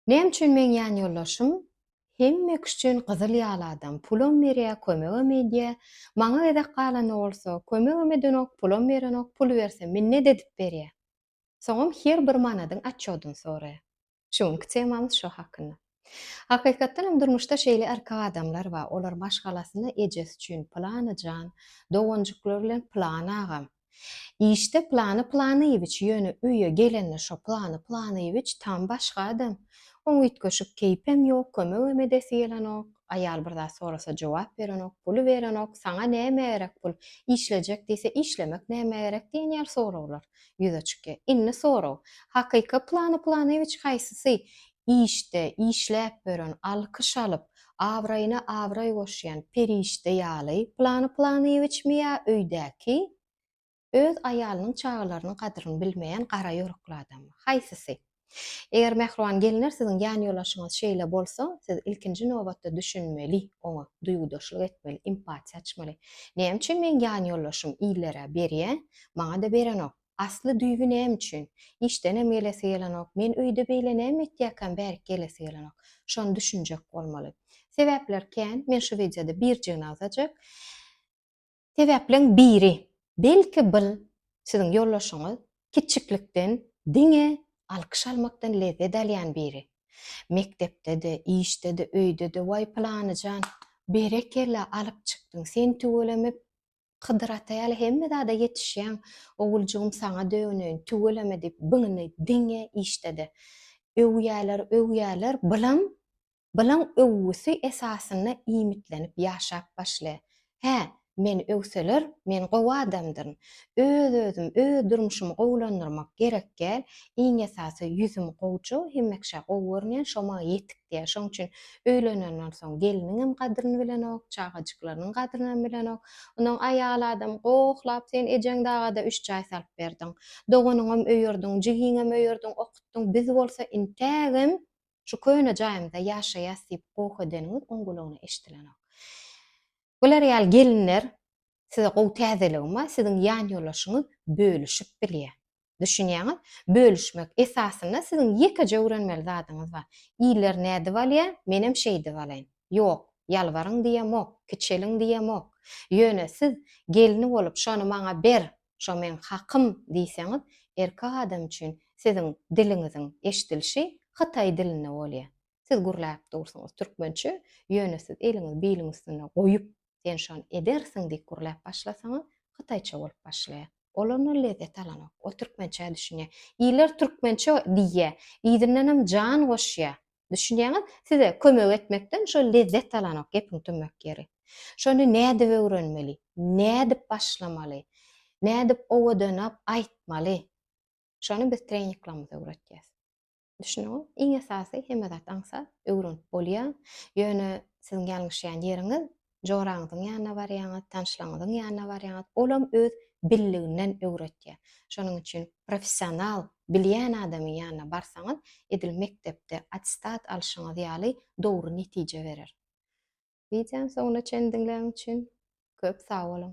Näme üçin meň ýan ýoldaşym hemme kişi üçin gyzyl ýaly adam, pulam berýä, kömegem edýä, maňa gezek galanda bolsa, kömegem edenok, pulam berenok, pul berse minnet edip berýä. Soňam her bir manadyň atçodyny soraýa. Şu günki temamyz şo hakynda. Hakykatdan hem durmuşda şeýle erkek adamlar bar, olar maşgalasyna ejesi üçin pylany jan, doganjyklary bilen pylany agam, Işde Plany Planyýewiç ýöne öýe gelende şo Plany Planyýewiç tam başga adam. Oň üýtgeşik keýpem ýok, kömegem edesi gelenok. Aýal bir zat sorasa jogap berenok, puly berenok, saňa näme gerek pul, işlejek diýse işlemek nämä gerek diýen ýaly soraglar ýüze çykýar. Indi sorag, Hakyky Plany Planyýewiç haýsysy? işde, işläp ýören, alkyş alyp, abraýyna abraý goşýan perişde ýaly, Plany Planyýewiçmi ýa öýdäki, öz aýalynyň, çagalarynyň gadyryny bilmeýän gara ýorekli adammy? Haýsysy? Eger mähriban gelinler siziň ýanýolaşyňyz şeýle bolsa, siz ilkinji nobatda düşünmeli oňa, duýgudaşlyk etmeli, empatiýa açmaly. Näme üçin meň ýanýollaşym illere berýä, maňa-da berenok? Asly-düýbi näme üçin? Işdenem gelesi gelenok. Men öýde beýle näme etýäkäm, bärik gelesi gelenok. Şony düşünjek bolmaly. Sebäpler kän. Men şu wideoda birjigini agzajak. Sebäpleň biri. Belki bil siziň ýoldaşyňyz kiçiklikden diňe alkyş almakdan lezzet alýan biri. Mekdepde-de, işde-de, öýde-de, Waý, pylanyjan, berekella, alyp çykdyň, sen tüweleme Hydyr ata ýaly hemme zada ýetişýäň, oguljygym saňa döneýin, tüweleme diýip byňyny diňe işledi. Öwýäler, öwýäler, bylaň, bylaň öwgüsi esasynda iýmitlenip ýaşap başly. Hä, meni öwseler, men gowy adamdyryn. Öz-özüm, öz durmuşymy gowulandyrmak gerek gel, iň esasy ýüzüm gowja, hemekşa gowy görünýän, şo maňa ýetik diýýär. Şoň üçin Öýlenenden soň gelniňem gadryny bilenok, çagajyklarynyň gadrynam bilenok. Onsoň aýal adam gohlap, Sen ejeň daga-da üç jaý salyp berdiň. Doganyňam öýerdiň, jigiňem öýerdiň, okutdyň, biz bolsa intägem şu köne jaýymyzda ýaşaýas diýip goh edeniňiz oň gulagyna eşidilenok. Bular ýaly gelinler, size gowy täzeligim bar, siziň ýanýoldaşyňyz bölüşip bilýär. Düşünýäňiz? Bölüşmek. Esasynda siziň ýekeje öwrenmeli zadyňyz bar. Iller nädip alýar, menem şeýdip alaýyn. Ýok, ýalbaryň diýemok, kiçeliň diýemok. Ýöne siz gelni bolup şony maňa ber, şo meň hakym diýseňiz, erkek adam üçin siziň diliňiziň eşdilişi hytaý dilinde bolýar. Siz gürläp dursuňyz türkmençe, ýöne siz eliňizi biliň üstünde goýup, sen şony edersiň diýip gürläp başlasaňyz, hytaýça bolup başlaýar. Ol ondan lezzet alanok. Ol türkmençä düşünýär. Iller türkmençe diýýär. Yzyndanam jan goşýar. Düşünýäňiz? Size kömek etmekden şol lezzet alanok, gepiň tümmek ýeri. Şony nädip öwrenmeli? Nädip başlamaly? Nädip owadanap aýtmaly? Şony biz treninglerimizde öwretýäs. Düşüniňiz? Iň esasy hemme zat aňsat, öwrenip bolýar. Ýöne siziň ýalňyşýan ýeriňiz, joraňyzyň ýanyna barýaňyz, tanşlaryňyzyň ýanyna barýaňyz, olam öz billiginden öwretýär. Şonuň üçin professional, bilýän adamyň ýanyna barsaňyz, edil mekdepde attestat alşyňyz ýaly dogry netije berer. Wideony soňuna çenli diňläniň üçin köp sag boluň!